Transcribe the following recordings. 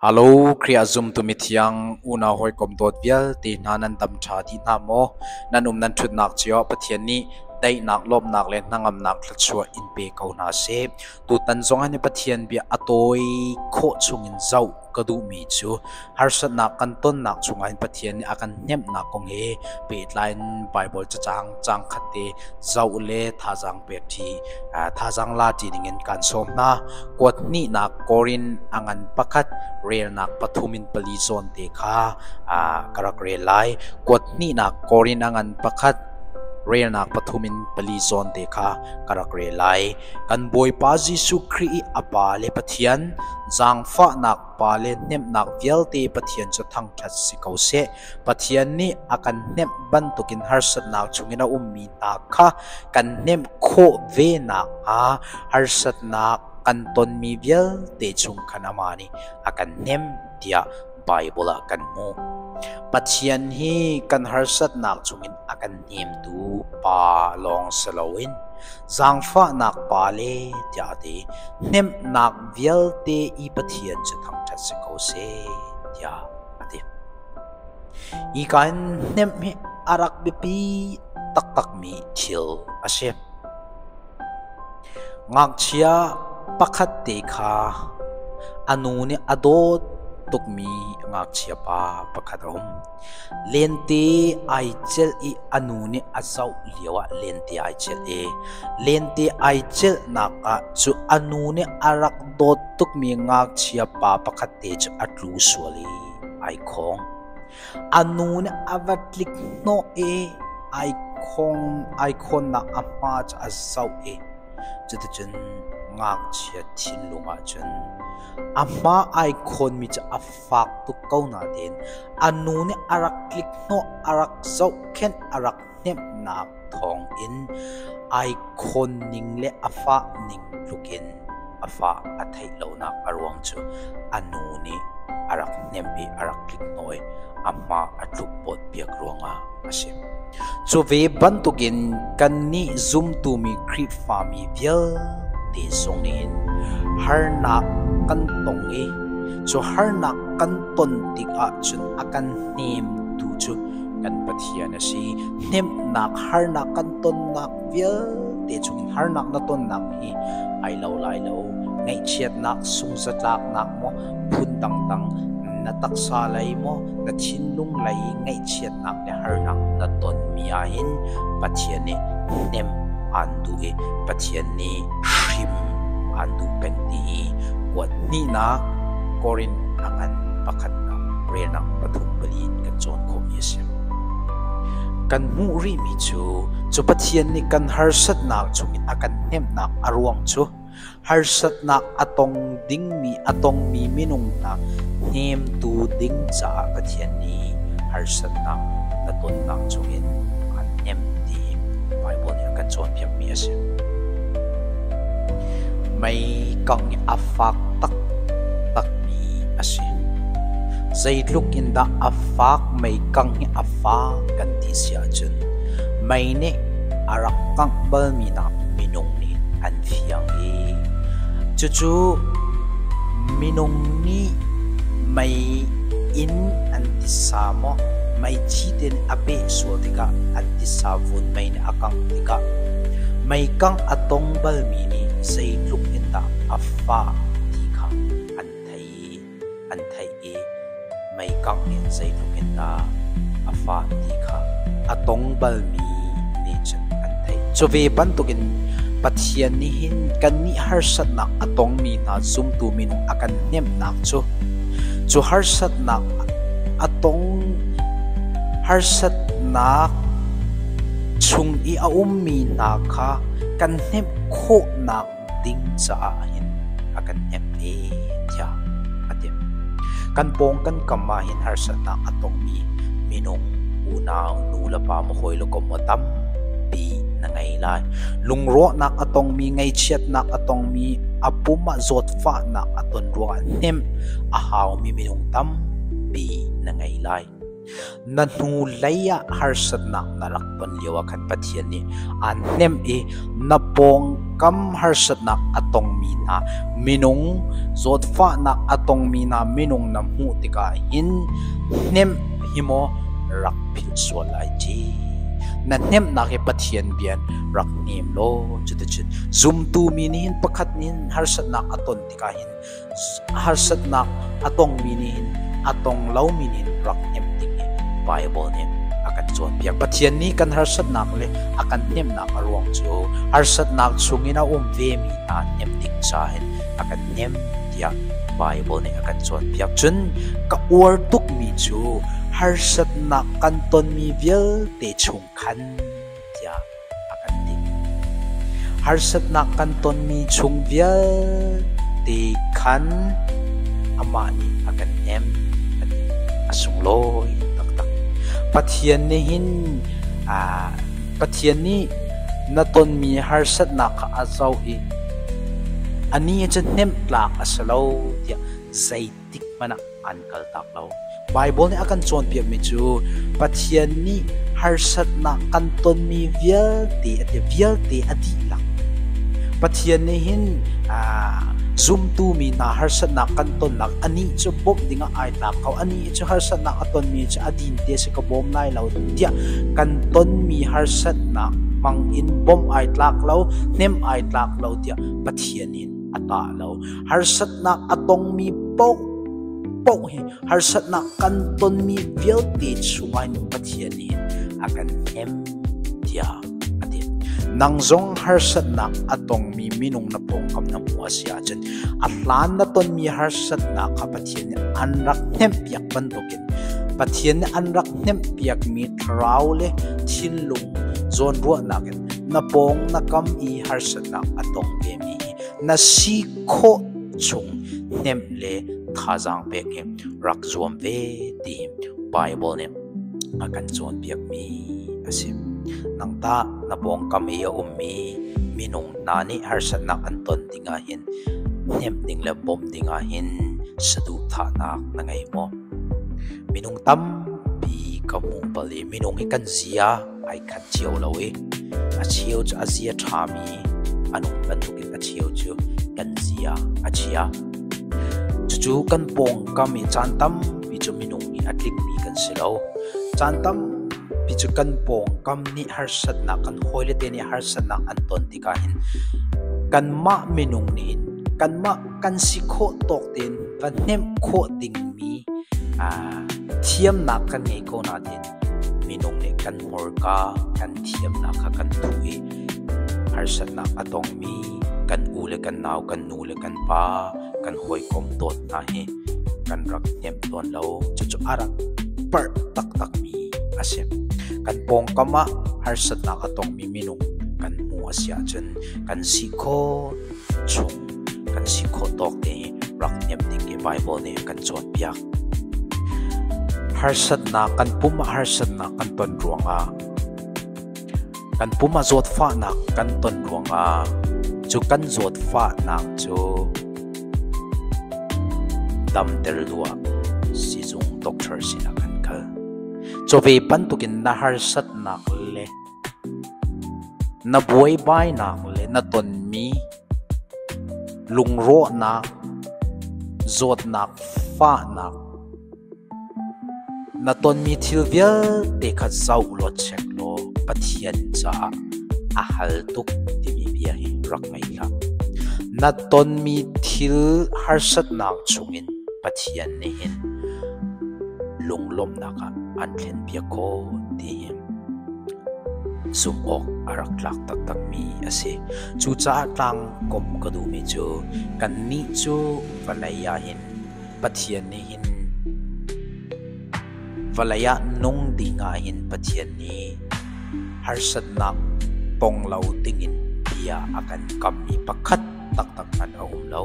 Alo Khrih ah zumtu mithiang unau hawikom dawt vialte hna nan dam ṭha ti hna maw? Nan um nan ṭhutnak cio ah Pathian nih daihnak, lawmhnak le hnangamnak thluachuah in pe ko hna seh. Tutan zongah nih Pathian bia a tawi khawh chungin zoh ka duhmi cu harsatnak kan tonnak chungah hin Pathian nih a kan hnemhnak kong he pehtlai in Baibal cacang cangkhat te zoh le thazaang pek ṭhi thazaang la ti dingin kaan sawm hna. Kuat hnihnak kawr in a ngan pakhat relnak pathum in pali zawn te kha ka rak rel lai. Kuat hnihnak kawr in a ngan pakhat relnak pathum in pali zawn te kha ka rak rel lai. Kan Bawipa Jesuh Khrih i a Pa le Pathian, zaangfahnak Pa le hnemhnak vialte Pathian cu thangṭhat si ko seh. Pathian nih a kan hnemh bantukin harsatnak chungin a ummi hna kha kan hnemh khawh ve nakhnga harsatnak kan tonmi vialte chung khan amah nih a kan hnemh tiah Baibal ah kan hmuh. Pathian hi kan harsatnak chungin a kan hnemtu Pa lawng si loin zaangfahnak Pa le tiah a ti. Hnemhnak vialte i Pathian cu thangṭhat si ko seh tiah a ti. Ika in hnemh hi a rak biapi taktakmi thil a si. Ngakchia pakhat te kha a nu nih a dawt tukmi ngakchia pa pakhat a um. Lente ai celh i a nu nih a zoh lio ah lente ai celh i lente ai celhnak ah cu a nu nih a rak dawt tukmi ngakchia pa pakhatte cu a tlu sual i ai khawng. A nu nih a va tlik hnawh i ai khawng ai khawnnak a hma cu a zoh i cuticun ngakchia thinlung ah cun a hma ai khawnmi cu a fak tuk ko natein a nu nih a rak tlik hnawh a rak zohkhenh a rak hnemhnak thawngin ai khawnning le a fahning tlukin a fa a theih lonak a ruang cu a nu nih a rak hnemh i a rak tliknawi a hma a tlukpawt piak ruangah a si. Cu ve bantukin kannih zumtumi Khrihfami vialte zong nih harnak kan tong i cu harnak kan ton tikah cun a kan hnemtu cu kan Pathian Pathian a si. Hnemhnak, harnak kan tonnak vialte chungin harnak na tonnak hi ai lo lai lo. Ngaihchiatnak, sunghzatlaknak maw phun dangdang na taksa lei maw na thinlung lei ngaihchiatnak le harnak na tonmi ahhin Pathian nih hnem aan duh i Pathian nih hrim an duh peng ti i kuat hnihnak Korinth a ngan pakhatnak relnak pathum pali in kan cawn khawhmi a si. Kan hmuh rihmi cu cu Pathian nih kan harsatnak chungin a kan hnemhnak a ruang cu harsatnak a tong Dingmi a tongmi minung hna hnemtu ding caah Pathian nih harsatnak na tonnak chungin an hnem ti Baibal nih a kan cawnpiakmi a si. Meikang a fak taktakmi a si. Zeitluk in dah a fak meikang hi a fak kan ti si ahcun mei nih a rak kangh balmi nak minung nih an thiang i cucu minung nih mei in an tisa maw meithi ten a peh sual tikah an tisa vun mei nih a kangh tikah mei kangh a tong balmi nih zeitluk in dah a fa ti kha an thei an theih i meikangh in zeitluk in dah a fah ti kha a tong balmi nih cun an theih. Cu ve bantukin Pathian nih hin kannih harsatnak a tongmi hna zumtu min a kan hnemhnak cu cu harsatnak a tong harsatnak chung i a ummi hna kha kan hnemh khawhnak ding caah hin a kan hnek i tiah a ti. Kan pawng kan kam ah hin harsatnak a tongmi minung unau nu le pa mu hawi le kom maw tampi na ngei lai. Lungrawhnak a tongmi ngeichiatnak a tongmi a pum ah zawtfahnak a ton ruangah hnem a haumi minung tampi na ngei lai. Na hnu hlei ah harsatnak na rak ton lioah khan Pathian nih aan hnemh i na pawngkam harsatnak a tongmi hna, minung zawtfahnak a tongmi hna minung na hmuh tikah hin hnemh hi maw rak philh sual lai ci. Na hnemhnak hi Pathian bia in rak hnem law cuticun zumtu mi nih hin pakhat nih hin harsatnak a ton tikah hin Harsatnak a tongmi nih hin a tong lomi nih hin rak hnemh ding hi Baibal nih a kan cawnpiak. Pathian nih kan harsatnak le a kan hnemhnak a ruang cu harsatnak chungin a um vemi hna hnemh ding caah hin a kan hnemh tiah Baibal nih a kan cawnpiak. Cun ka uar tukmi cu harsatnak kan tonmi vialte chung khan tiah a kan ti. Harsatnak kan tonmi chung vialte khan amah nih a kan nem a ti a sunglawi taktak. Pathian nih hin aa, Pathian nih na tonmi harsatnak kha a zoh i a ni cu hnemh tlak a si lo tiah zei tik hmanh ah an kaltak lo. Baibal nih a kan cawnpiakmi cu Pathian nih harsatnak kan tonmi vialte a ti vialte a dihlak. Pathian nih hin zumtu mi hna harsatnak kan tonnak anih cu bawmh dingah ai tlak ko anih cu harsatnak a tonmi cu a din te si ka bawm lai lo tiah kan tonmi harsatnak hmang in bawmh ai tlak lo hnem ai tlak lo tiah Pathian in a tah lo harsatnak a tongmi paoh paoh hi harsatnak kan tonmi vialte chungah hin Pathian nih a kan hem tiah a ti. Nang zong harsatnak a tongmi minung na pawngkam na hmuh a si ahcun a hlan na tonmi harsatnak kha Pathian nih an rak hnemhpiak bantukin Pathian nih an rak hnemhpiakmi thlarau le thinlung zawnruahnak in na pawng na kam i harsatnak a tong vemi hi Na si khawh chung hnemh le thazaang pek hi rak zuam ve ti Bible nih a kan cawnpiakmi a si. Nang tah na pawngkam i a ummi minung hna nih harsatnak an ton dingah hin hnemh ding le bawmh dingah hin saduhthahnak na ngei maw? Minung tampi ka hmu pal i minung hi kan zia ai khat cio lo i a cheu cu a zia ṭhami an um bantukin a cheu cu kan zia a chia. Cucu kan pawngkam i caan tampi cu minung i a tlingmi kan si lo. Caan tampi cu kan pawngkam nih harsatnak kan hawile te nih harsatnak an ton tikah hin kanmah minung nih kanmah kan si khawh tawk tein kan hnemh khawh dingmi aa thiamnak kan ngei ko nain Minung nih kan hmurka, kan thiamnak kha kan duh i harsatnak a tongmi kan u le kan nau, kan nu le kan pa, kan hawikom dawt hna hi kan rak hnem tawn lo. Cucu a rak parh taktakmi a si. Kan pawngkam ah harsatnak a tongmi minung kan hmu a si ahcun kan si khawh chung kan si khawh tawk te i rak hnem ding i Bible nih kan cawnpiak Harsatnak kan pum ah harsatnak kan ton ruangah kan pum ah zawtfahnak kan ton ruangah cu kan zawtfahnak cu damter luah sizung doctor sinah kan kal. Chove bantukin na harsatnak le Na buaibainak le na tonmi lungrawhnak, zawtnak, fahnak na tonmi thil vialte kha zoh law check law Pathian caah a hal tuk timi bia hi rak ngei hlah. Na tonmi thil harsatnak chungin Pathian nih hin lunglawmhnak ah an thlenpiak khawh ti zumh awk a rak tlak taktakmi a si. Cucaah tlang kom ka duhmi cu kannih cu vawlei ah hin Pathian nih hin vawlei ah nung ding ah hin Pathian nih harsatnak pong lo dingin tiah a kan kammi pakhat taktak hmanh a um lo.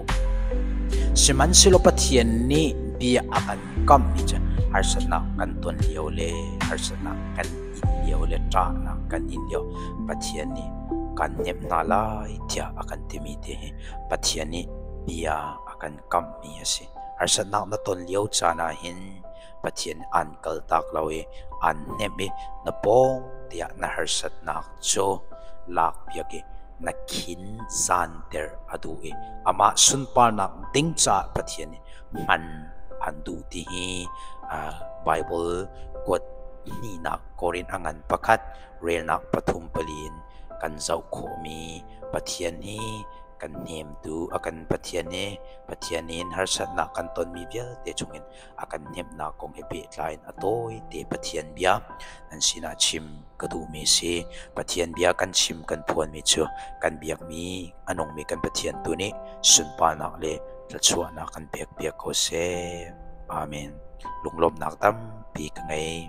Sihmanhsehlaw Pathian nih bia a kan kamhmi cu harsatnak kan ton lio le harsatnak kan in lio le ṭahnak kan in lio Pathian nih kan nemh hna lai tiah a kan timi ti hi Pathian nih bia a kan kamhmi a si. Harsatnak na ton lio caan ah hin Pathian an kaltak lo i an hnemh i na pawng tiah na harsatnak cu lakpiak i na khin zanter a duh i amah sunparnak ding caah Pathian nih hman an duh ti hi Baibal kuat hnihnak Korin a ngan pakhat relnak pathum pali in kan zoh khawhmi Pathian hi kan hnemtu a kan Pathian i Pathian in harsatnak kan tonmi vialte chungin a kan hnemhnak kong he pehtlai in a tawite Pathian bia nan sinah chim ka duhmi si. Pathian bia kan chim kan phuanmi cu kan biakmi a nungmi kan Pathian tu nih sunparnak le thluachuahnak kan pekpiak ko seh. Amen. Lunglawmhnak tampi ka ngei.